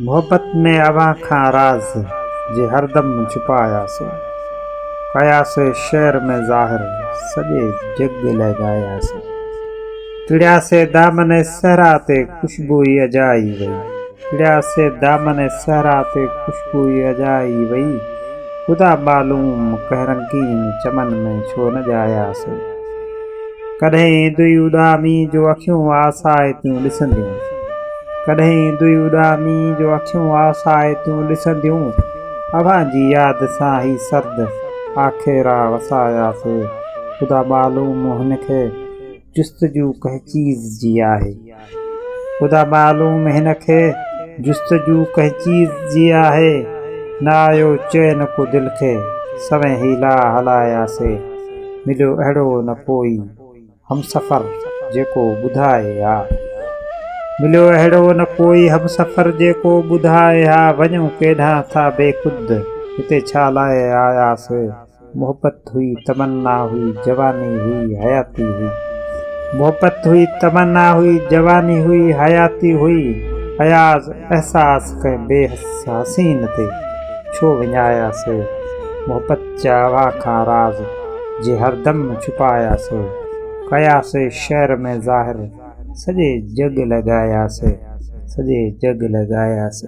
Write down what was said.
محبت ۾ اوهان کان راز جي هردم ڇپايا سو ڪيا سي شعر ۾ ظاهر سڄي جڳ لئه ڳايا سي ٽڙيا سي دامن صحرا تي خوشبوئي اجائي وئي ٽڙيا سي دامن صحرا تي خوشبوئي اجائي وئي خدا معلوم ڪنهن رنگين چمن ۾ ڇو نه ڄايا سي. ڪڏهن دوئي اڏامي جو اکيون آسائتيون ڏسنديون ڪڏهن دوئي اڏامي جو اکيون آسائتيون ڏسنديون اوهان جي ياد سان هي سرد آکيرا وساياسي خدا معلوم هن کي جستجو ڪنهن چيز جي آهي. خدا معلوم هن کي جستجو ڪنهن چيز جي آهي، نه آيو چين ڪو دل کي، سوين حيلا هلايا سي، مليو اهڙو نه ڪوئي همسفر جيڪو ٻڌائي ها. مليو اهڙو نه ڪوئي همسفر جيڪو ٻڌائي ها، وڃون ڪيڏانهن ٿا بيخود، هتي ڇا لاء آيا سي؟ محبت هئي تمنا هئي جواني هئي حياتي هئي محبت هئي تمنا هئي جواني هئي حياتي هئي اياز احساس ڪنهن بي حس حسين تي ڇو وڃايا سي محبت جا اوهان کان راز جي هردم ڇپايا سي ڪيا سي شعر ۾ ظاهر سڄي جڳ لڳايا سي سڄي جڳ لڳايا سي.